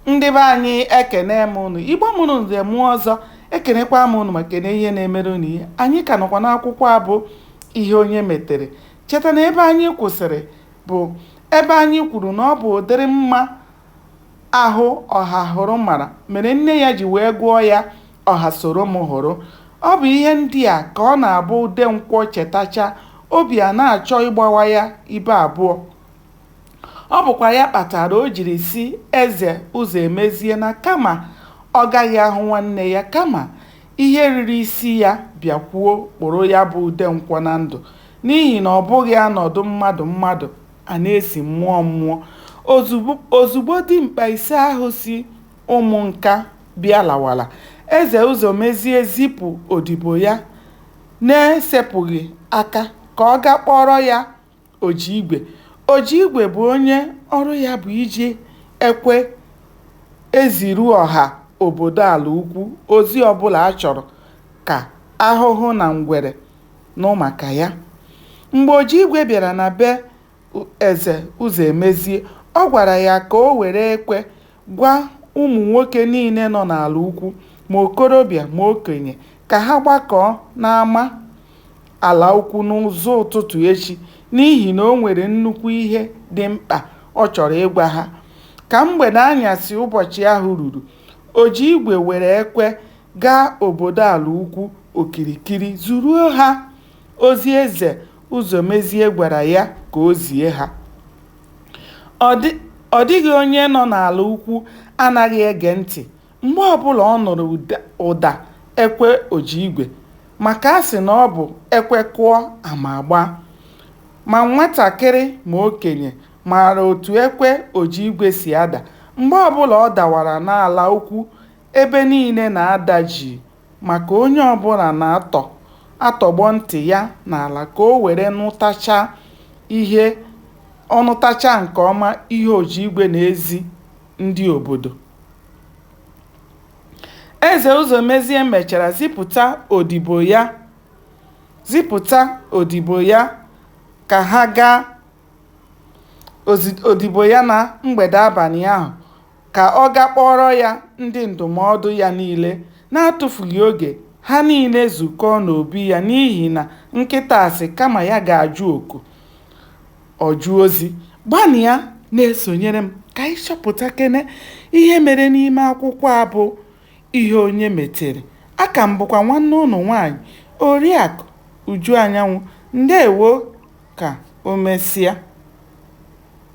ndị be anyị ekene m ụnụ igbo mụrụ nze mụọ ọzọ ekenekwa m ụnụ ma kene ihe na-emere ụnụ ihe anyị ka nọkwa n'akwụkwọ a bụ ihe onye metere cheta na ebe anyị kwụsịrị bụ ebe anyị kwuru na ọ bụ ụdịrị mma ahụ ọhahụrụ mara mere nne ya ji wee gụọ ya ọha soro m hụrụ ọ bụ ihe ndị a ka ọ na-abụ udenkwọ chetacha obi a na-achọ ịgbawa ya ibe abụọ Ọ bụkwa ya kpatara o jiri sị Eze Ụzọemezie na kama ọ gaghị ahụ nwanne ya, kama ihe riri isi ya bịakwuo kpụrụ ya bụ Udenkwọ na ndụ n'ihi na ọ bụghị a nọdụ mmadụ mmadụ, a na-esi mmụọ mmụọ. Ozugbo dimkpa ise ahụ si Ụmụnka bịa lawara, Eze Ụzọmezie zipụ odibo ya n'esepụghị aka ka ọ gaa kpọọrọ ya. ojiigwe ojiigwe bụ onye ọrụ ya bụ iji ekwe eziru ọha obodo ala ukwu ozi ọbụla a chọrọ ka ahụhụ na ngwere nụ maka ya mgbe ojiigwe bịara na be eze ụzọemezie ọ gwara ya ka o were ekwe Gwa ụmụ nwoke niile nọ n'ala ukwu, ma okorobịa ma okenye, ka ha gbakọọ n'ama ala ukwu n'ụzọ ụtụtụ echi, n'ihi na o nwere nnukwu ihe dị mkpa ọ chọrọ ịgwa ha. Ka mgbede anyasị ụbọchị ahụ ruru, Ojiigwe were ekwe gaa obodo ala ukwu okirikiri zuruo ha ozi eze Ụzọmezie gwara ya ka o zie ha. Ọ dịghị onye nọ n'ala ukwu anaghị ege ntị mgbe ọbụla ọ nụrụ ụda ekwe ojiigwe maka a sị na ọ bụ ekwe kụọ, ama agbaa. Ma nwatakịrị ma okenye maara otu ekwe ojiigwe si ada. Mgbe ọbụla ọ dawara n'ala ukwu, ebe niile na-ada jii. maka onye ọbụla na-atọ atọgbọ ntị ya n'ala ka o were nụtachaa ihe ọ nụtachaa nke ọma ihe Ojiigwe na-ezi ndị obodo. Eze Ụzọmezie mechara zipụta odibo ya zipụta odibo ya ka ha gaa odibo ya na mgbede abalị ahụ ka ọ gaa kpọọrọ ya ndị ndụmọdụ ya niile. N'atụfughị oge, ha niile zukọọ n'obi ya n'ihi na nkịta sị kama ya ga-ajụ oku, ọ jụọ ozi. Gbanịa na-esonyere m ka anyị chọpụtakene ihe mere n'ime akwụkwọ a bụ Ihe Onye Metere. Aka m bụkwa nwanne ụnụ nwaanyị, Oriakụ Uju Anyanwụ. Ndewo ka o mesịa.